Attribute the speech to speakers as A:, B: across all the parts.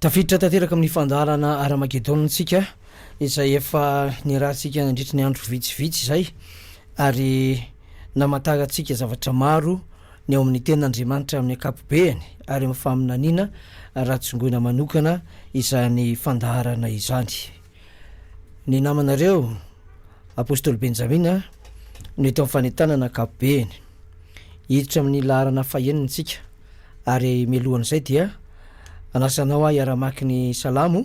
A: tafiditra tanteraka amin'ny fandaharana aramagedona antsika izay efa nirahantsika nandritry ny andro vitsivitsy izay ary namantarantsika zavatra maro ny ao amin'ny Tenin'Andriamanitra amin'ny ankapobeany ary amin'ny faminaniana raha tsongoina manokana izany fandaharana izany. Ny namanareo, Apostoly Benjamina, no eto amin'ny fanentanana ankapobeany. Hiditra amin'ny laharana fahenina isika ary mialohan'izay dia anasanao ahy hiara-mamaky ny salamo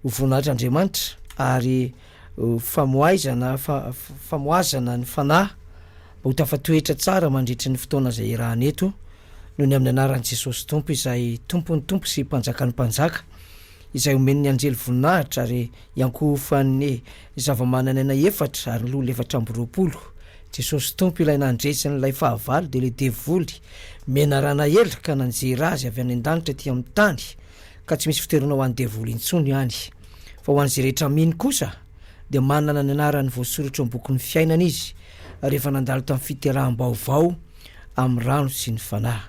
A: ho voninahitr'Andriamanitra ary Famoaizana, famoazana ny fanahy mba ho tafatoetra tsara mandritry ny fotoana izay iarahana eto, noho ny amin'ny anaran'i Jesosy Tompo izay Tompon'ny Tompo sy Mpanjakan'ny Mpanjaka, izay omen'ny anjely voninahitra ary iankohofan'ny zava-mananaina efatra ary loholona efatra amby roapolo. Jesosy Tompo ilay nandresy an'ilay fahavalo dia ilay devoly menarana ela ka nanjera azy avy any an-danitra ety amin'ny tany, ka tsy misy fiterana ho an'ny devoly intsony any. Fa ho an'izay rehetra mino kosa dia manana ny anarany voasoratra eo am-bokin'ny fiainana izy rehefa nandalo tamin'ny fiteraham-baovao amin'ny rano sy ny Fanahy.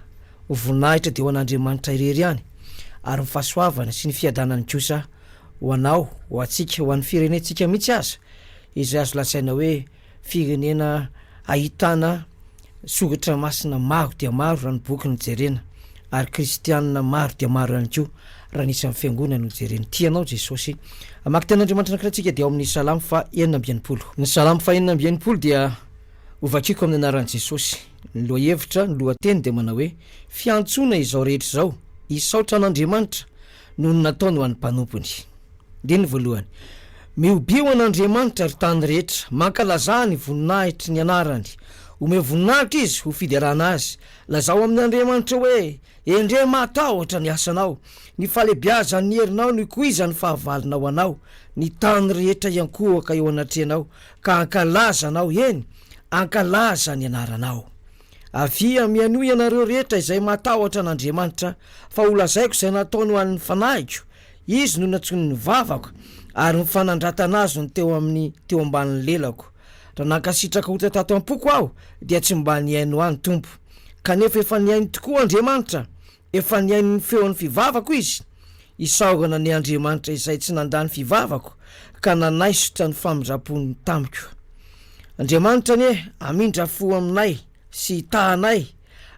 A: Ho voninahitra dia ho an'Andriamanitra irery ihany ary ny fahasoavana sy ny fiadanany kosa ho anao, ho antsika, ho an'ny firenentsika mihitsy aza izay azo lazaina hoe Firenena ahitana soratra masina maro dia maro raha ny boky no jerena, ary kristianina maro dia maro ihany koa raha ny isan'ny fiangonana no jerena. Tia anao Jesosy. Hamaky tenin'Andriamanitra anankiray tsika dia ao amin'ny Salamo faha enina amby enimpolo. Ny Salamo faha enina amby enimpolo dia ho vakiko amin'ny anaran'i Jesosy. Ny lohahevitra, ny lohateny dia manao hoe, Fiantsoana izao rehetra izao, hisaotra an'Andriamanitra, noho ny nataony ho an'ny mpanompony. Andininy voalohany, Mihobe ho an'Andriamanitra, ry tany rehetra, mankalazà ny voninahitry ny anarany. Omeo voninahitra izy ho fiderana azy. Lazao amin' Andriamanitra hoe, Endrey mahatahotra ny asanao! Ny fahalebiazan'ny herinao no ikoizan'ny fahavalonao anao. Ny tany rehetra hiankohoka eo anatrehanao ka hankalaza anao, eny, hankalaza ny anaranao. Avia, mihainoa ianareo rehetra izay matahotra an' Andriamanitra, fa holazaiko izay nataony ho an' ny fanahiko, Izy no nantsoiny ny vavako, ary ny fanandratana Azy no teo amin' ny teo ambanin' ny lelako. Raha nankasitraka ota tato am-poko aho, dia tsy mba nihaino ahy ny Tompo. Kanefa efa nihaino tokoa Andriamanitra. Efa nihaino ny feon'ny fivavako izy, isaorana ny Andriamanitra izay tsy nandà ny fivavako ka nanaisotra ny famindram-pony tamiko. Andriamanitra anie hamindra fo aminay sy hitaha anay,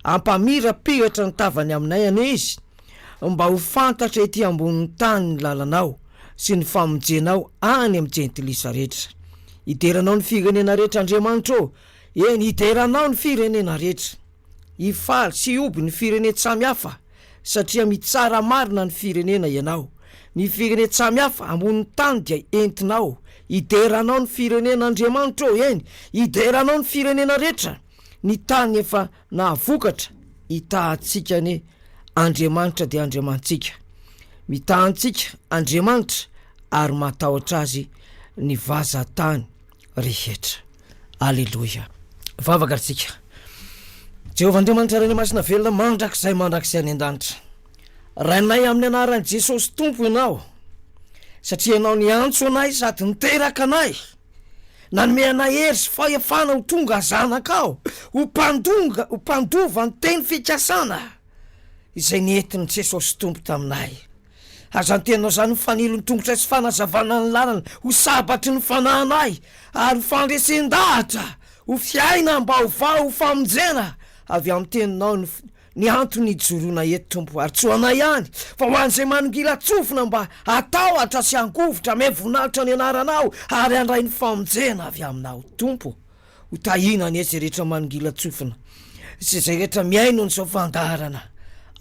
A: hampamirapiratra ny tavany aminay anie Izy, mba ho fantatra ety ambonin'ny tany ny lalanao sy ny famonjenao any amin'ny jentilisa rehetra. Hidera anao ny firenena rehetra Andriamanitra ô, eny hidera anao ny firenena rehetra. Hifaly sy hihoby ny firenen-tsamy hafa satria mitsara marina ny firenena ianao. Ny firenen-tsamy hafa ambonin'ny tany dia entinao. Hidera anao ny firenen'Andriamanitra ô, eny, hidera anao ny firenena rehetra. Ny tany efa nahavokatra hitaha antsika anie, Andriamanitra dia Andriamanitsika. Mitaha antsika Andriamanitra ary matahotra Azy ny vazan-tany. rehetra. Aleloia. Vavaka ary tsika. Jehovah Andriamanitra Rainay Masina Velona mandrakizay mandrakizay any an-danitra. Rainay amin'ny anaran'i Jesosy Tompo Ianao satria Ianao niantso anay sady niteraka anay. Nanome anay hery sy fahefana ho tonga zanakao, ho mpandonga, ho mpandova ny teny fikasana. izay nentin'i Jesosy Tompo taminay. Aza anteninao izany ho fanilon-tongotra sy fanazavana ny lalana, ho sabatry ny fanahinay, ary ho fandresen-dahatra ho fiainam-baovao ho famonjena avy amin'ny Teninao ny ny antony hijoroana eto, Tompo, ary tsy ho anay ihany, fa ho an'izay manongila-tsofina mba hatahotra sy hangovitra, miha voninahitra ny Anaranao, ary handray ny famonjena avy Aminao, Tompo. Ho tahiana anie izay rehetra manongilan-tsofina sy izay rehetra mihaino an'izao fandaharana.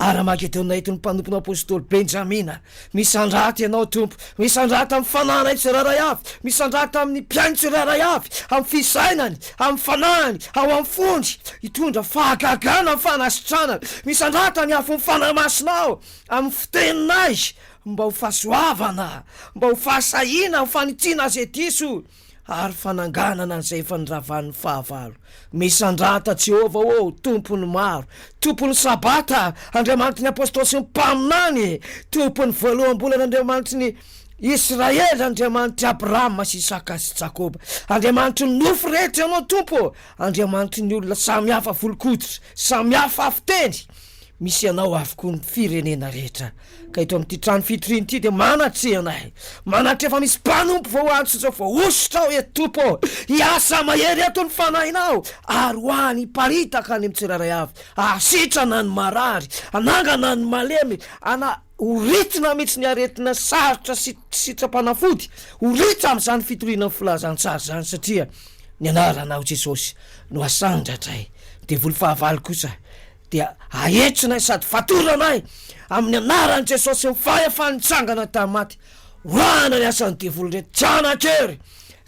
A: Ara-magedona entin'ny mpanompony Apostoly Benjamina. Misandrahatra ianao, Tompo. Misandrahatra amin'ny fanahana ny tsirairay avy. Misandrahatra amin'ny mpihaino tsirairay avy, amin'ny fisainany, amin'ny fanahiny, ao amin'ny fony. Hitondra fahagagana ny fanasitranana. Misandrahatra ny afon'ny Fanahy Masinao, amin'ny fiteninay, mba ho fahasoavana, mba ho fahasahiana, ho fanitsiana izay diso. ary fananganana an'izay efa niravan'ny fahavalo. Misandrata Jehovah ô, Tompon'ny maro, Tompon'ny Sabata, Andriamanitry ny Apostoly sy ny Mpaminany, Tompon'ny voaloham-bolana, Andriamanitry ny Israely, Andriamanitr'i Abrahama sy Isaka sy Jakoba, Andriamanitry ny nofo rehetra Ianao Tompo ô, Andriamanitry ny olona samihafa volon-koditra, samihafa fiteny, Misy anao avokoa ny firenena rehetra, ka eto amin'ity trano fitoriana ity dia manatreha anay. Manantreha fa misy mpanompo vao ho any sy izao voahosotra ao eto, Tompo ô! Hiasa mahery eto ny Fanahinao, ary ho any hiparitaka any amin'ny tsirairay avy, hahasitrana ny marary, hanangana ny malemy, hana, ho ritina mihitsy ny aretina sarotra sy sitrapanafody, ho ritra amin'izany fitoriana ny Filazantsara izany, satria ny Anaranao, Jesosy, no asandratra e! Devoly fahavalo kosa dia ahitsinay sady fatoranay amin'ny anaran'i Jesosy sy ny fahefany nitsangana tamin'ny maty, wahana ny asan'ny devoly rehetra, janakery,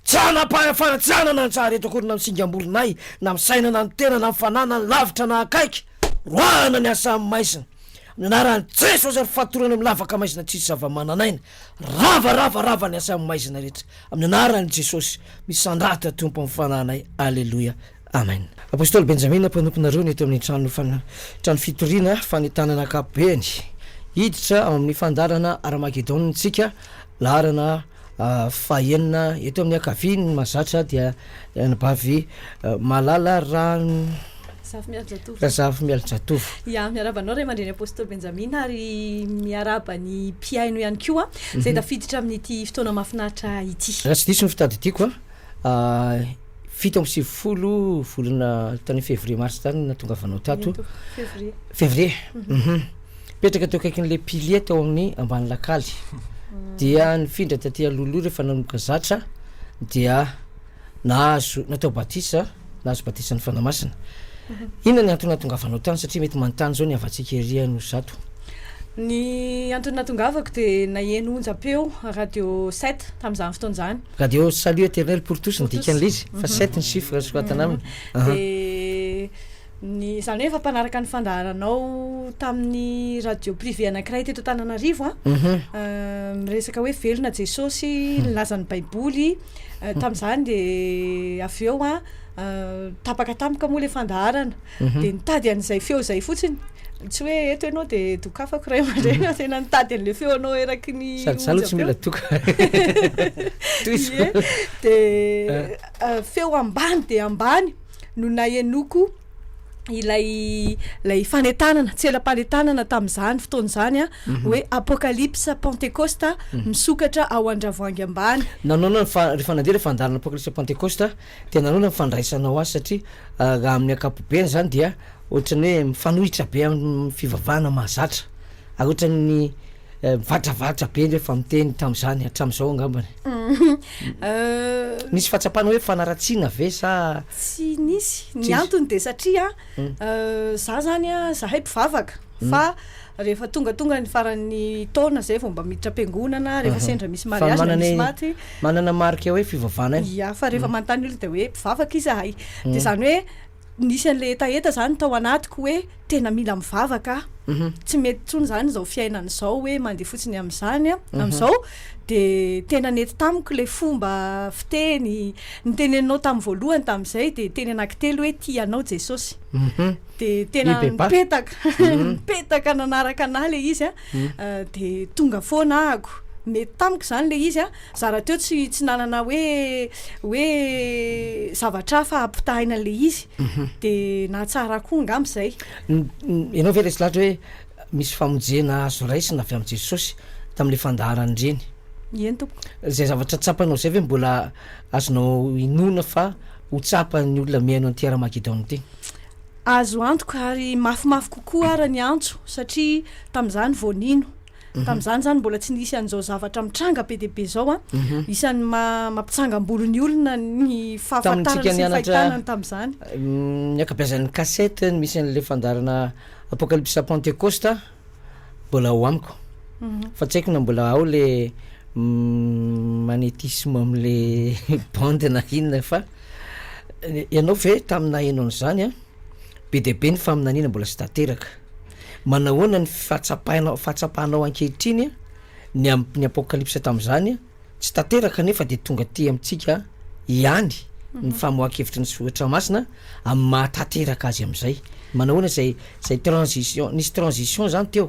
A: janam-pahefana tsy hanana anjara eto akory na amin'ny singam-bolonay na amin'ny saina na amin'ny tena na amin'ny fanahy na ny lavitra na akaiky, wahana ny asan'ny maizina, amin'ny anaran'i Jesosy ary fatorana amin'ny lavaka maizina tsisy zava-mananaina, rava, rava, rava ny asan'ny maizina rehetra, amin'ny anaran'i Jesosy, misandratra Tompo amin'ny fanahinay, aleloia, Amen. Apostoly Benjamina mpanomponareo ny eto amin'ny trano fan trano fitoriana fanentanana ankapobeny. Hiditra ao amin'ny fandaharana Armagedona isika laharana fahenina eto amin'ny ankaviany mazatra dia anabavy Malala Ran Zafy Mialy Jatovo. Razafy Mialy Jatovo. Ya, miarahaba anao Ray
B: aman-dreny Apostoly Benjamina ary miarahaba ny mpihaino ihany koa izay mhm. tafiditra amin'ity fotoana mahafinaritra ity. Raha tsy diso ny fitadidiako
A: a fito amby sivifolo volana tany février mars tany no natongavanao tato Ito, février. février mhm. mipetraka teo akaikin'ilay pilier tao amin'ny ambany lakaly dia nifindra taty aloloha rehefa nanomboka zatra dia nahazo natao batisa nahazo batisa ny fanahy masina inona ny antony natongavanao tany satria mety manontany izao ny havantsika ery ano zato Ny
B: antony natongavako dia naheno onjam-peo radio 7 tamin'izany fotoana izany. Radio Salut Eternel
A: pour tous ny dikan'ilay izy fa sept ny chiffre soratana aminy aah. De
B: ny izany hoe efa mpanaraka ny fandaharanao tamin'ny radio privé anankiray teto Antananarivo a miresaka hoe velona Jesosy nilaza ny baiboly tamin'izany de avy eo a tapaka tampoka moa ilay fandaharana. mhm. dia nitady an'izay feo izay fotsiny tsy hoe eto ianao dia dokafako ray aman-dreny mhm. tena nitady an'la feo anao eraky ny sady tsy mila doka
A: dia
B: eh. eh, feo ambany dia ambany no nahenoko ilay ilay fanetanana tsy ela-panetanana tamin'izany fotoana izany a mhm. hoe apokalypsa pentecosta mhm. misokatra ao an-dravoangy ambany nanaona fa ry
A: fanandeha le fandaharana apokalypsa pentecosta Tena anao ilay fandraisanao azy satria raha amin'ny ankapobeny izany dia ohatran'ny hoe mifanohitra be amin'ny fivavahana mahazatra ary ohatran'ny mivatravatra be ny hoe fa miteny tamin'izany hatramin'izao angambany Nisy fahatsapana hoe fanaratsiana ve sa Tsy nisy,
B: ny antony dia satria Za zany a, zahay mpivavaka fa rehefa tongatonga ny faran'ny taona zay vao mba miditra am-piangonana, rehefa sendra misy mariazy na misy maty. Manana marika hoe
A: fivavana io. Ia, fa rehefa manontany
B: olona dia hoe mpivavaka izahay. Dia izany hoe nisy an'ilay hetaheta izany tao anatiko hoe tena mila mivavaka aho. Tsy mety intsony izany izao fiainana izao hoe mandeha fotsiny amin'izany amin'izao. dia tena nety tamiko ilay fomba fiteny, ny teneninao tamin'ny voalohany tamin'izay dia teny anankitelo hoe tia anao Jesosy, mhm. dia tena nipetaka, mhm. nipetaka nanaraka anah ilay izy a, mhm. dia tonga foana ahako mety tamiko izany le izy a zara teo tsy tsy nanana hoe hoe zavatra hafa hampitahina an'le izy mhm. de nahatsara koa angamba izay ianao ve
A: resy lahatra hoe Misy famonjena azo raisina avy amin'i Jesosy tamin'ilay fandaharan'ireny. Eny tompoko.
B: Izay zavatra tsapanao
A: izay ve mbola azonao inoana fa ho tsapan'ny olona mihaino an'ity Ara-magedona ity? Azo
B: antoka ary mafimafy kokoa ara ny antso satria tamin'izany vao nino. Mhm. Tamin'izany izany mbola tsy nisy an'izao zavatra mitranga be dia be izao an. Mhm. Isan'ny ma- mampitsangam-bolo ny olona ny fahafantarana sy ny fahitana ny tamin'izany. Ny ankabeazan'ny
A: cassette misy an'ilay fandaharana. Apokalypsa Pentekosta mbola ao amiko fa tsy haiko na mbola ao le magnétisme amle bande na inona fa ianao ve tamin'ny naheno an'izany an be dia be ny faminaniana mbola tsy tanteraka manahoana ny fahatsapainao fahatsapanao ankehitriny ny amin'ny apokalypsa tamin'izany an Tsy tanteraka anefa dia tonga aty amintsika ihany ny famoahan-kevitry ny Soratra Masina amin'ny maha tanteraka azy amin'izay. Manao ahoana izay izay transition, nisy transition izany teo,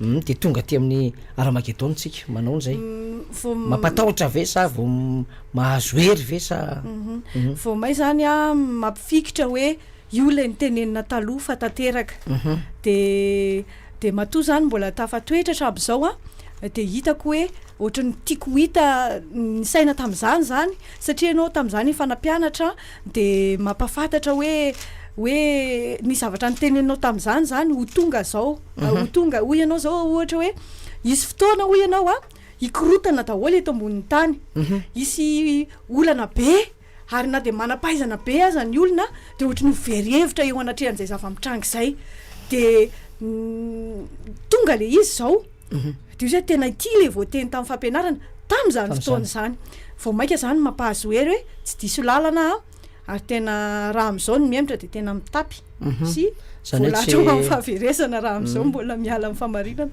A: hum dia tonga aty amin'ny Armagedona isika, manao ahoana izay? Vao m- Mampatahotra ve sa vao m- mahazo hery
B: ve sa?
A: Vao may
B: izany
A: an,
B: mampifikitra
A: hoe
B: io ilay notenenina taloha fa tanteraka. Dia Dia matoa izany mbola tafatoetra hatramin'izao an, dia hitako hoe ohatran'ny tiako ho hita ny saina tamin'izany izany, satria ianao tamin'izany efa nampianatra dia mampahafantatra hoe hoe ny zavatra noteneninao tamin'izany izany ho tonga izao, ho tonga, hoy ianao izao ohatra hoe hisy fotoana hoy ianao an hikorotana daholo eto ambonin'ny tany, hisy olana be. Ary na dia manam-pahaizana be aza ny olona dia ohatry ny ho very hevitra eo anatrehan'izay zava-mitranga izay. Dia tonga ilay izy izao, dia hoe tena ity ilay voateny tamin'ny fampianarana tamin'izany fotoana izany. Vao mainka izany mampahazo hery hoe tsy diso lalana aho, ary tena raha amin'izao ny mihemotra dia tena mitapy mhm. sy voalahatra ho amin'ny fahaverezana raha amin'izao mhm. mbola miala amin'ny famarinana.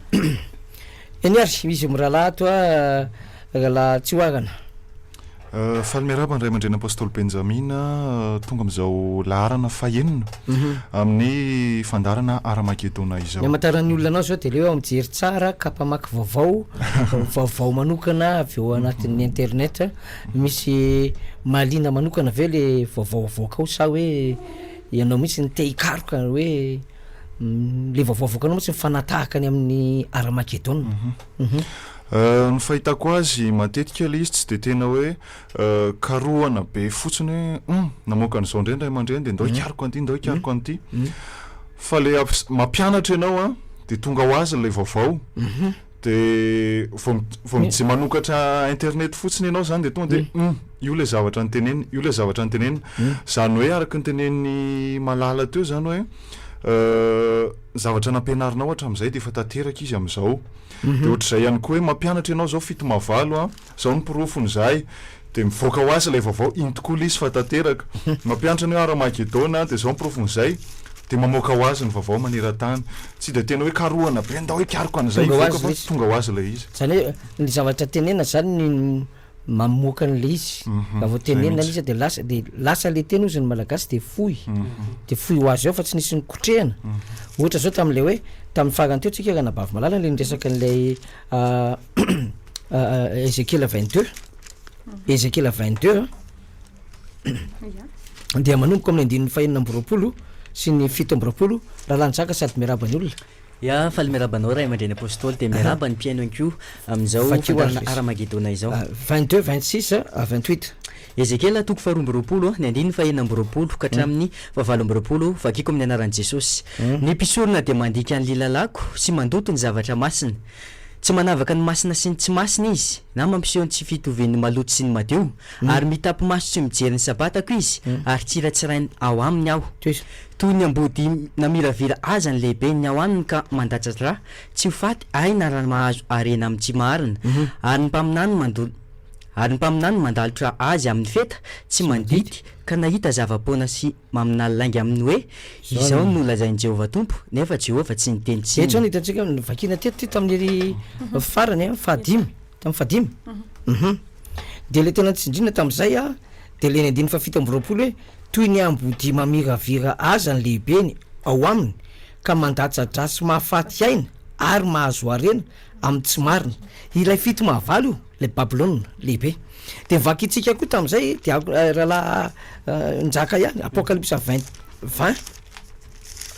A: Eny ary, izy mirahalahy toa rahalahy tsy hoarana.
C: Faly miarahaba ny Ray aman-dReny Apostoly Benjamina tonga amin'izao laharana fahenina mhm. amin'ny fandarana Aramagedona izao. Ny amantaran'ny olona
A: anao izao
C: dia
A: leo aho mijery tsara ka mpamaky vaovao, vaovao manokana avy eo anatin'ny internet. Misy mahaliana manokana ve le vaovao avoakao sa hoe ianao mihitsy ny te hikaroka hoe mm, le vaovao avoakanao mihitsy mifanatahaka ny amin'ny Aramagedona. Mhm. Mhm.
C: Ny fahitako azy matetika ilay izy tsy dia tena hoe karohana be fotsiny hoe hum namoaka an'izao indray ny ray aman-dreny dia ndao hikaroka an'ity ndao hikaroka an'ity fa ilay amps- mampianatra ianao a dia tonga ho azy ilay vaovao dia vao mi- vao mij- manokatra internet fotsiny ianao izany dia tonga dia hum io ilay zavatra notenenina io ilay zavatra notenenina izany hoe araka ny tenenin'i Malala teo izany hoe zavatra nampianarinao hatramin'izay dia efa tanteraka izy amin'izao. Dia ohatr'izay ihany koa hoe mampianatra ianao izao fito mavalo a, izao ny porofony izahay. Dia mivoaka ho azy ilay vaovao, inty koa lisy fa tanteraka. Mampianatra ny hoe Hara-magedona, dia izao ny porofony izay. Dia mamoaka ho azy ny vaovao maneran-tany. Tsy dia tena hoe karohana be, ndao hikaroka an'izay hivoaka fa tonga ho azy ilay izy. Izany hoe ny zavatra
A: tenenina izany ny. mamoaka an'ilay izy, raha vao tenenina ilay izy dia lasa, dia lasa ilay teny hozy ny Malagasy dia fohy, dia fohy ho azy ao fa tsy nisy nikotrehana, ohatra izao tamin'ilay hoe, tamin'ny farany teo tsika ranabavimalalan ilay niresaka an'ilay Ezekiela vingt deux, Ezekiela vingt deux an, dia manomboka amin'ny andininy fahenina amby roapolo sy ny fito amby roapolo, Ralanjaka sady miarahaba ny olona. Ya, faly miaraba
D: anao Ray aman-dReny Apôstôly, dia miaraba ny mpihaino ihany koa amin'izao fandaharana Haramagedona izao. Vingt deux, vingt six,
A: vingt huit. Ezekiela toko
D: faharoa amby roapolo, ny andininy fahenina amby roapolo ka hatramin'ny fahavalo amby roapolo, Vakiko amin'ny anaran'i Jesosy. Ny mpisorona dia mandika ny lilalako sy mandoto ny zavatra masina. Tsy manavaka ny masina sy ny tsy masina izy, na mampiseho ny tsy fitovian'ny maloto sy ny madio, ary mitapy-maso tsy mijery ny Sabatako izy, ary tsy ratsirainy ao aminy aho. Toy ny ambody namiravira aza ny lehibe ny ao aminy ka mandatsa-dra, tsy ho faty aina raha mahazo harena amin'ny tsy marina, ary ny mpaminany mandol ary ny mpaminany mandalotra azy amin'ny feta tsy mandidy ka nahita zava-poana sy maminany lainga amin'ny hoe, Izao no nolazain'i Jehovah Tompo, nefa Jehovah tsy niteny tsinona. Eto izao no hitantsika, novakiana
A: teto ity tamin'ny farany, fahadimy. Tamin'ny fahadimy? Hum. Dia ilay tena tsindriana tamin'izay an, dia ilay ny andininy fahafito amby roapolo hoe, Toy ny ambodia mamiravira aza ny lehibeny ao aminy, ka mandatsa-dratsy mahafaty aina ary mahazo harena amin'ny tsy marina. Ilay fito mahavalo io, ilay Babylona Lehibe. Dia ny vakintsika koa tamin'izay dia Rahalahy Njaka ihany, Apocalypse vingt, vingt,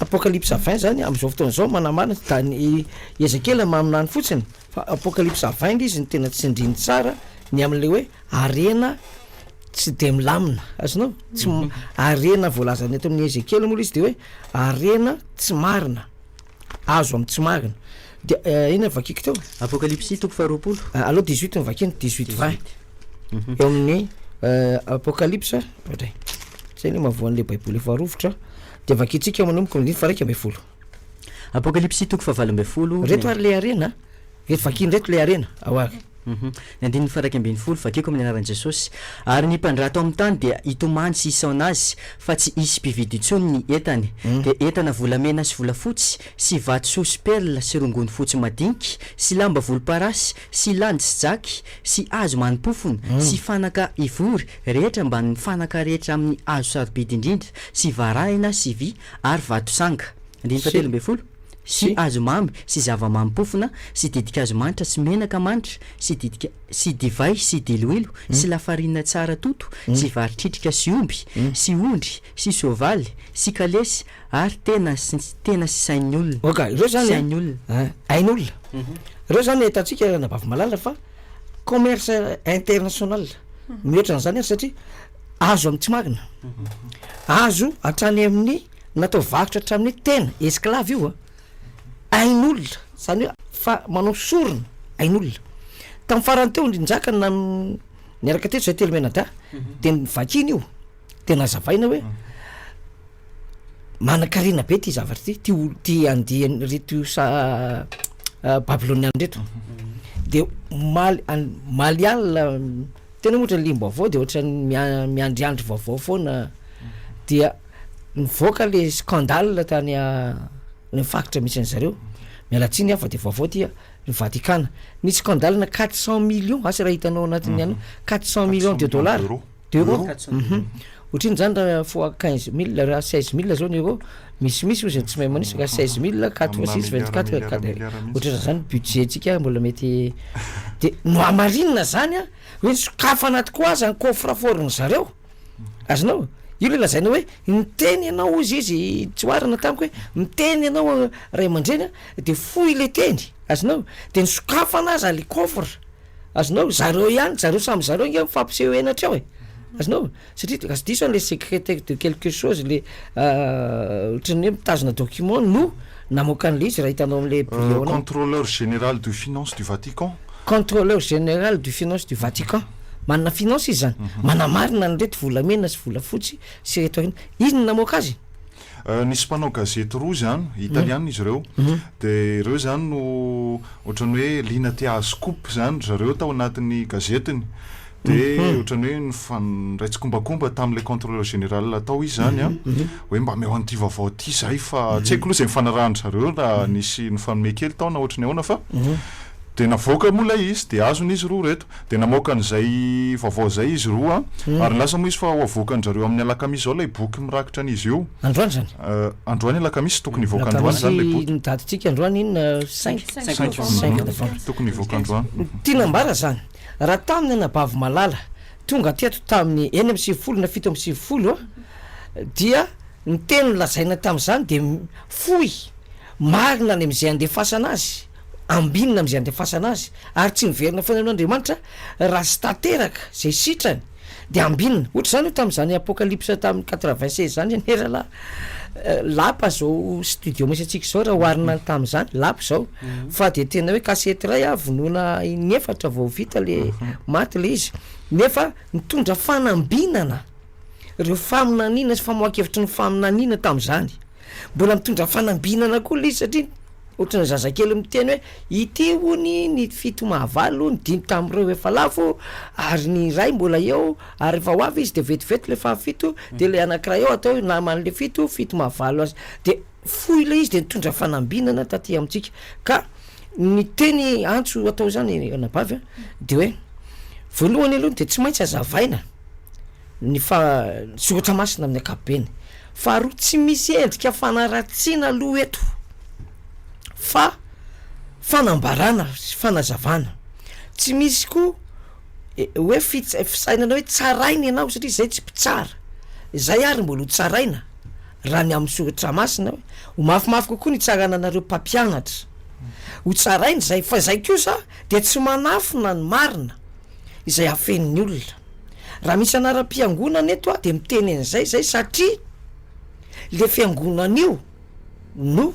A: Apocalypse vingt izany amin'izao fotoana izao manamarina, da ny i Ezekiela maminany fotsiny. Fa apocalypse avainga izy no tena tsindriny tsara ny amin'ilay hoe harena tsy dia milamina, azonao? Tsy m- harena voalazany eto amin'ny Ezekiela moa ilay izy dia hoe harena tsy marina, azo amin'ny tsy marina. Dia eh, inona no vakiko teo? Apokalypsy toko
D: faharoapolo. Ah, aleo 18 no vakiny,
A: 18 20. Eo amin'ny eh, apocalypse, ohatray. Zay le mahavoan'ilay baiboly efa rovitra. Dia vakintsika ao manomboka amin'ny andininy faha-iraika ambin'ny folo. Reto
D: ary le harena
A: a! Reto vakiny reto le harena ao ary. Ny andininy
D: faha-iraika ambin'ny folo, vakiko amin'ny anaran'i Jesosy. Ary ny mpandraha tao amin'ny tany dia hitomany sy hisaona azy, fa tsy hisy mpividy intsony ny entany. Dia entana volamena sy volafotsy, sy vatosoa sy perla sy rongony fotsy madinika, sy lamba volomparasy, sy landy sy jaky, sy hazo manim-pofona, sy fanaka ivory rehetra ambanin'ny fanaka rehetra amin'ny hazo sarobidy indrindra, sy varahina sy vy, ary vatosanga, andininy fahatelo ambin'ny folo, sy hazomamy sy zava-mampofona sy ditin-kazo manitra sy menaka manitra sy ditin-kazo sy divay sy diloilo sy lafarinina tsara toto sy vary tritrika sy omby sy ondry sy soavaly sy kalesy ary tena sy tena sy sain'ny olona Ok, ireo zany an, sain'ny
A: olona.
D: an, ain'olona.
A: Ireo zany ahitantsika, Ranabavy Malala, fa commerce international mihoatra an'izany ary satria, azo amin'ny tsy marina, azo hatrany amin'ny natao varotra hatramin'ny tena, esclave io a, ain'olona, zany hoe fa manao sorona ain'olona. Tamin'ny farany teo ny njaka nan- niaraka teto zay telo mianadahy de nivakina io de nazavaina hoe manan-karena be ty zavatra ty, ty olo- ty andian'ireto sa- babilôniana reto de omaly any maliala. Tena ohatra ny lim-baovao dia ohatran'ny miandry andro vaovao foana dia nivoaka le scandale tany le faritra misy an'i zareo miala tsiny aho fa dia vaovao ity a ny Vatikana nisy scandale na quatre cent millions asa raha hitanao anatin'ny anao quatre cent millions de dollars d'euros d'euros Otrino zany ra fois quinze mille ra seize mille zao ny euro misy misy ozy ny tsy mahay manisa ka seize mille quatre fois six vingt quatre otrira zany budget tsika mbola mety de no hamarinina zany a hoe ny sokafana tokoa aza ny coffre fort ny zareo azonao io le lazaina hoe niteny ianao ozy izy tsoarina tamiko hoe miteny ianao ray aman-dreny a de fohy le teny azonao de ny sokafana aza le coffre Azonao? Zareo ihany, zareo samy zareo ange mifampiseho henatra eo e. Azonao? Satria de lasa diso any le secrétaire de quelque chose le ohatran'ny hoe mitazona document no namoaka an'le izy raha hitanao am'le bio-nao. Contrôleur
C: général de finance du Vatican. Contrôleur général
A: du finance du Vatican. Manana finance izy zany. Manamarina an'ireto volamena sy volafotsy sy ireto aina. Izy no namoaka azy e. Nisy mpanao
C: gazety roa izany, italiana izy ireo, dia ireo izany no ohatran'ny hoe liana te hahazo scoop izany ry zareo tao anatin'ny gazetiny. Dia ohatran'ny hoe nifandray tsikombakomba tamin'ilay contrôleur général tao izy izany hoe mba ameo an'ity vaovao ity izahay fa tsy haiko aloha izay nifanarahan-dry zareo na nisy nifanome kely tao na ohatry ny ahoana fa dia navoaka moa ilay izy dia azon'izy roa ireto. Dia namoaka an'izay vaovao izay izy roa, ary nilaza moa izy fa ho avoakan-dry zareo amin'ny alakamisy izao ilay boky mirakitra an'izy io. Androany izany?
A: Androany alakamisy,
C: tokony hivoaka androany izany ilay boky. Ny datin-tsika androany inona?
A: Cinq? Cinq novembre. Tokony hivoaka
C: androany. Tiana ambara izany,
A: raha tamin'ny anabavy malala tonga teto tamin'ny enina amby sivifolo na fito amby sivifolo dia ny teny nolazaina tamin'izany dia fohy, marina any amin'izay andefasana azy. ambinina amin'izay andefasana azy, ary tsy niverina foana aloha Andriamanitra, raha tsy tanteraka izay sitrany dia ambinina, ohatra izany io tamin'izany Apocalypse tamin'ny quatre-vingt seize izany anie ralah, lapa izao studio misy antsika izao raha oharina ny tamin'izany, lapa izao, fa dia tena hoe kasety iray ah vonoina in'efatra vao vita le maty le izy, nefa nitondra fanambinana ireo faminaniana sy famoahan-kevitry ny faminaniana tamin'izany, mbola mitondra fanambinana koa le izy satria, Ohatry ny zazakely miteny hoe, ity hono ny fito mahavalo, ny dimy tamin'ireo efa lavo, ary ny iray mbola eo, ary rehefa ho avy izy dia vetivety ilay fahafito, dia ilay anankiray eo atao hoe naman'ilay fito, fito mahavalo azy, dia foy ilay izy dia nitondra fanambinana taty amintsika, ka ny teny antso atao izany anabavy a, dia hoe, voalohany aloha dia tsy maintsy azavaina, ny fa soratra masina amin'ny ankapobeny, faharoa tsy misy endrika fanaratsiana aloha eto fa fanambarana sy fanazavana, tsy misy koa hoe fits- fisainana hoe tsaraina ianao satria izay tsy mpitsara, izay ary mbola ho tsaraina raha ny amin'ny soratra masina hoe ho mafimafy kokoa ny hitsarana anareo mpampianatra, ho tsaraina izay fa izay kosa dia tsy manafina ny marina. izay afenin'ny olona. Raha misy anaram-piangonana eto aho dia miteny an'izay izay satria le fiangonana io no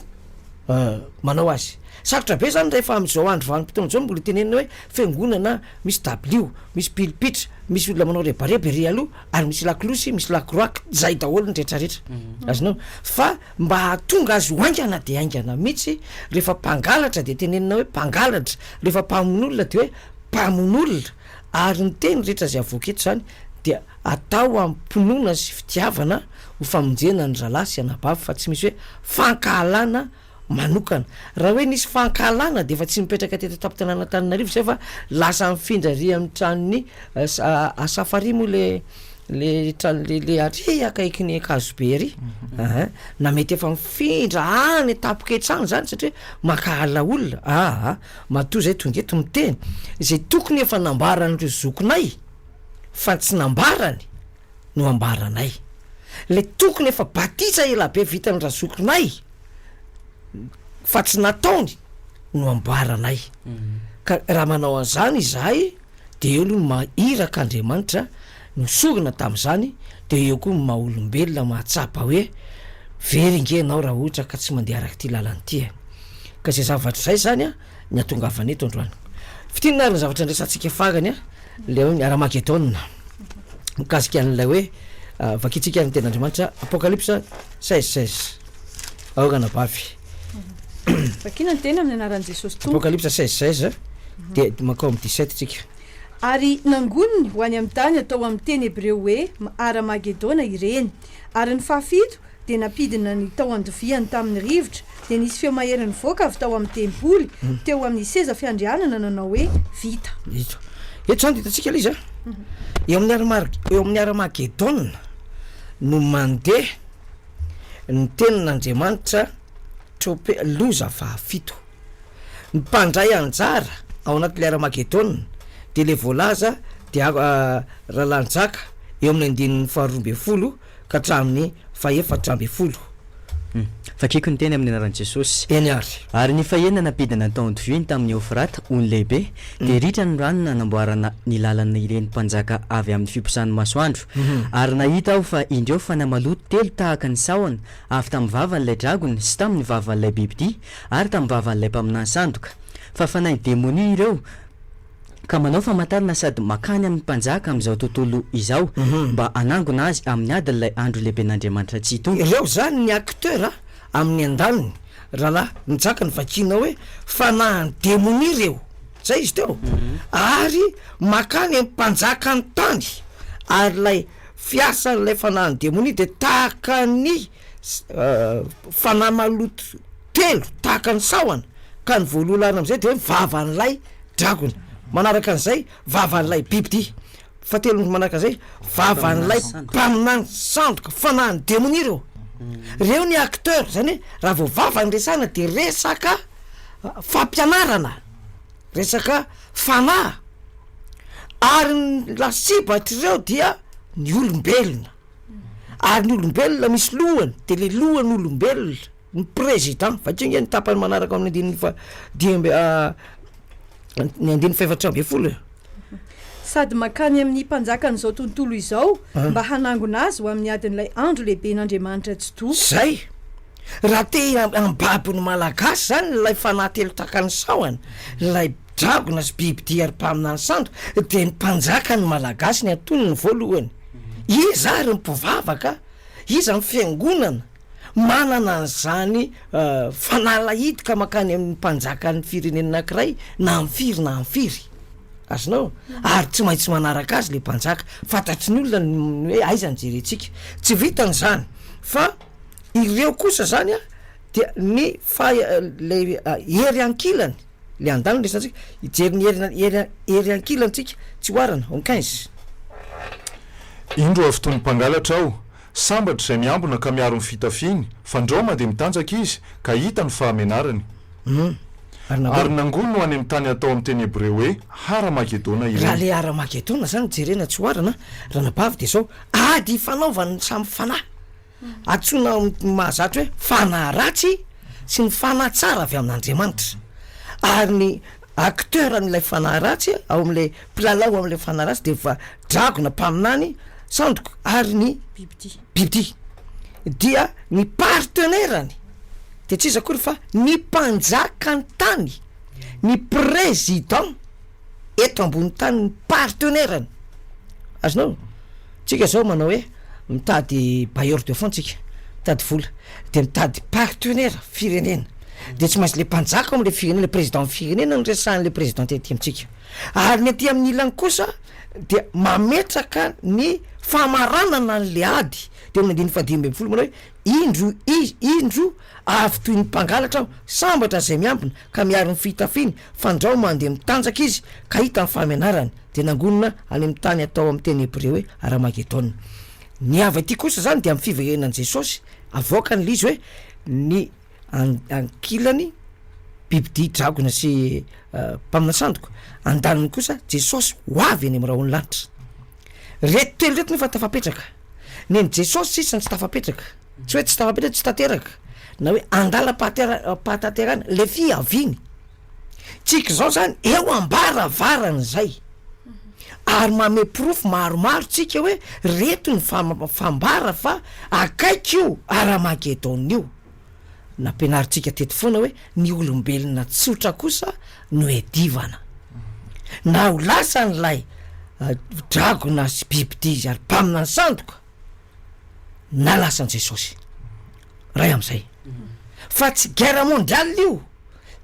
A: manao azy. Sarotra be zany rehefa am'izao andro vanim-potoana izao mbola itenenina hoe fiangonana misy dabilio, misy pilipitra, misy olona manao rebareba ery aloha ary misy lakolosy, misy lakroaky, zay daholo ny retraretra. Azonao? Fa Mba hahatonga azy ho haingana dia haingana mihitsy, rehefa mpangalatra dia tenenina hoe mpangalatra, rehefa mpamono olona dia hoe mpamono olona, ary ny teny rehetra izay avoaka eto izany dia atao amim-pinoana sy fitiavana ho famonjena ny rahalahy sy anabavy fa tsy misy hoe fankahalana manokana. Raha hoe nisy fankahalana dia efa tsy mipetraka teto an-tampon-tanàn'Antananarivo izay fa lasa mifindra ary amin'ny tranon'i Safari moa ilay Le trano le le ary akaiky ny ankazobe ary aha na mety efa mifindra any tapoka etsy any zany satria mankahala olona aha matoa zay tonga eto miteny zay tokony efa nambaran'ireo zokinay fa tsy nambarany no ambaranay le tokony efa batisa elabe vitan'ny razokinay fa tsy nataony no ambaranay ka raha manao an'zany izahay dia eo aloha ny maha iraka Andriamanitra no sorona tamin'izany dia eo koa ny maha olombelona mahatsapa hoe very nge ianao raha ohatra ka tsy mandeha araka ity lalana ity e! ka izay zavatra izay izany ny hatongavana eto androany. Fintinina ary ny zavatra andraisantsika farany a, ilay hoe ny Haramagedona, mikasika an'ilay hoe vakintsika ary ny tenin'Andriamanitra Apocalypse seize seize, aoran'abavy.
B: Vakina ny teny amin'ny anaran'i Jesosy Tompo. Apocalypse 16, 16,
A: dia mankao amin'ny 17 tsika. Ary
B: nangoniny ho any amin'ny tany atao amin'ny teny hebreo hoe Hara-magedona ireny. Ary ny fahafito dia nampidina ny tao andoviany tamin'ny rivotra, dia nisy feo mahery nivoaka avy tao amin'ny tempoly, teo amin'ny seza fiandrianana nanao hoe, Vita. Vita. Eto izany
A: dia hitantsika ilay izy a. Eo amin'ny Hara-mar- eo amin'ny Hara-magedona no mandeha. Ny Tenin'Andriamanitra, Trop. Loza fahafito. Ny mpandray anjara ao anatin'ilay Armagedona dia ilay voalaza dia Rahalahy Njaka eo amin'ny andininy faharoa ambin'ny folo ka hatramin'ny fahefatra ambin'ny folo.
D: Vakiko ny teny amin'ny anaran'i Jesosy. Eny àry. Ary ny
A: fahena
D: nampidina ny taonty vy ny tamin'i Eofrata, ony lehibe, dia ritra ny rano nanamboarana ny làlana ireny mpanjaka avy amin'ny fiposahan'ny masoandro. Ary nahita aho fa indreo fanahy maloto telo tahaka ny sahona, avy tamin'ny vavan'ilay dragona, sy tamin'ny vavan'ilay bibidia, ary tamin'ny vavan'ilay mpaminany sandoka. Fa fanahy demonia ireo, ka manao famantarana sady mankany amin'ny mpanjaka amin'izao tontolo izao, mba hanangona azy amin'ny adin'ilay andro lehiben'Andriamanitra tsy hitombo. Ireo izany ny acteur
A: amin'ny andaniny, rahalahy, mijaka ny vakiana hoe, fanahy demonia ireo. Zay izy teo ary makany am mpanjakan tany ary lay fiasan lay fanahin demonia de tahaka ny fanahy maloto telo tahaka ny sahona ka ny voaloha lany amzay de vavan lay dragona manaraka anzay vavan lay bibidia Fahatelo ny manaraka izay, vavan'ilay mpaminany sandoka, fanahin'ny demonia ireo. Ireo ny acteurs, izany hoe raha vao vava ny resahana dia resaka fampianarana, resaka fanahy. Ary ny lasibatr'ireo dia ny olombelona. Ary ny olombelona misy lohany, dia ilay lohan'olombelona. ny Président. Vakio nge ny tapany manaraka ao amin'ny andininy faha dimy amby ny andininy fahefatra ambin'ny folo e.
B: Sady mankany amin'ny mpanjakan'izao tontolo izao mba hanangona azy ho amin'ny adin'ilay andro lehiben'Andriamanitra tsy to. Zay!
A: Raha te hambabo ny Malagasy zany ilay fanahy telo takan'ny sahona, ilay dragona sy bibidia ary mpaminany sandoka, dia ny mpanjaka ny Malagasy ny antonony voalohany. Iza ary ny mpivavaka? Iza ny fiangonana? manana an'izany fanalahidoka mankany amin'ny mpanjakan'ny firenena anankiray na amin'ny firy na amin'ny firy. Azonao? Ary tsy maintsy manaraka azy ilay mpanjaka. Fantatry ny olona ny hoe aiza no jerentsika. Tsy vitan' izany fa ireo kosa izany a dia ny faha- ilay hery ankilany, ilay an-daniny no resahantsika, hijery ny hery hery hery ankilantsika tsy oharana, en quinze.
C: Indro avy itony mpangalatra aho, Sambatra izay miambina ka miaro ny fitafiany, fandraoma dia mitanjaka izy ka hita ny fahamenarany. Ary nangoa no any amin'ny tany atao amin'ny teny hebreo hoe Hara-magedona ireny. Raha ilay Hara-magedona
A: izany no jerena tsy oharana, ranabavy, dia izao, ady ifanaovan'ny samy fanahy. Antsoina amin'ny mahazatra hoe fanahy ratsy sy ny fanahy tsara avy amin'Andriamanitra. Ary ny acteur an'ilay fanahy ratsy a, ao amin'ilay mpilalao ao amin'ilay fanahy ratsy dia efa dragona mpaminany sandoko ary ny Bibidia. bibidia dia ny partenaire-ny dia tsy iza akory fa ny mpanjakan-tany, ny président eto ambony tany ny partenaire-ny, azonao? Tsika zao manao hoe mitady bailleur de fonds tsika, mitady vola, de mitady partenaire firenena, de tsy maintsy le mpanjaka ao amle firenena, le président firenena no resahanle président tety amitsika, ary ny aty aminy ilany kosa dia mametraka ny famaranana anle ady, de ao aminy andininy fahadimy ambin'ny folo manao hoe indro izy indro avy toy ny mpangalatra aho, sambatra zay miambina ka miaro ny fitafiny Fandrao mandeha mitanjaka izy ka hita ny fahamenarany, dia nangonina any amin'ny tany atao amin'ny teny hebreo hoe Armagedona. Ny avy aty kosa izany dia amin'ny fiverenan'i Jesosy, avoakany ilay izy hoe ny ankilany bibidia dragona sy mpaminansandoka, andaniny kosa Jesosy ho avy eny amin'ny rahon'ny lanitra. Reto telo reto nefa tafapetraka. Nen'i Jesosy sisa no tsy tafapetraka. Tsy hoe tsy tafapetraka, tsy tanteraka. Na hoe andalam-pahatanterahana. Ilay fiaviany. Tsika izao izany eo am-baravaran'izay. Ary manome porofo maromaro tsika hoe reto ny fambara fa akaiky io Aramagedaona io. Nampianarintsika teto foana hoe ny olombelona tsotra kosa no hedivana. Na ho lasa an'ilay dragona sy bibidia izy ary mpamina ny sandoka, na lasa an'i Jesosy. Ray amin'izay. Fa tsy guerre mondiale io.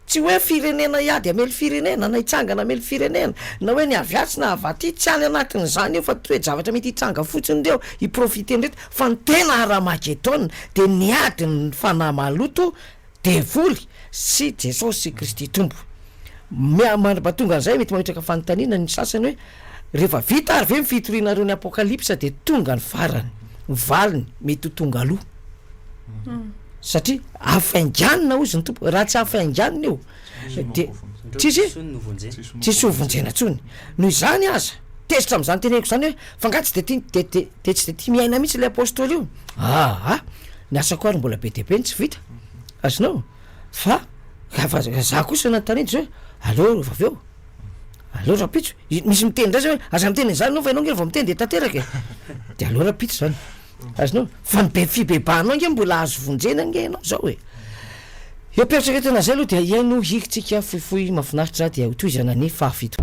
A: Tsy hoe firenena hiady hamely firenena, na hitsangana hamely firenena, na hoe ny avy atsy na avy aty, tsy any anatin'izany io fa toe-javatra mety hitranga fotsiny ireo hi-profiter-n'ireto fa ny tena Haramagedona dia ny adin'ny fanahy maloto, devoly, sy Jesosy Kristy Tompo. Mia-mandra-pahatongan'izay mety mametraka fanontaniana ny sasany hoe, Rehefa vita ary ve ny fitorianareo ny Apokalypsa dia tonga ny farany, ny valiny mety ho tonga aloha. Satria hafainganina hozy ny Tompo, raha tsy hafainganina io dia tsisy tsisy hovonjena intsony. Noho izany aza, tezitra amin'izany teneniko izany hoe, fa nga tsy dia tia dia dia dia tsy dia tia miaina mihitsy ilay Apostoly io? Aa! ny asako ary mbola be dia be ny tsy vita, azonao? fa fa za kosa nanontaniana izy hoe, aleo rehefa avy eo, Aleo rahampitso, misy miteny indray zay hoe aza miteny an'izany ianao fa ianao ange vao miteny dia tanteraka e! dia aleo rahampitso izany, azonao? Fa ny be fibebahanao ange mbola azo vonjena ange ianao izao e! Eo am-pieritreretana an'izay aloha dia hihaino ho hirintsika fohifohy mahafinaritra aho dia hotohizana ny fahafito.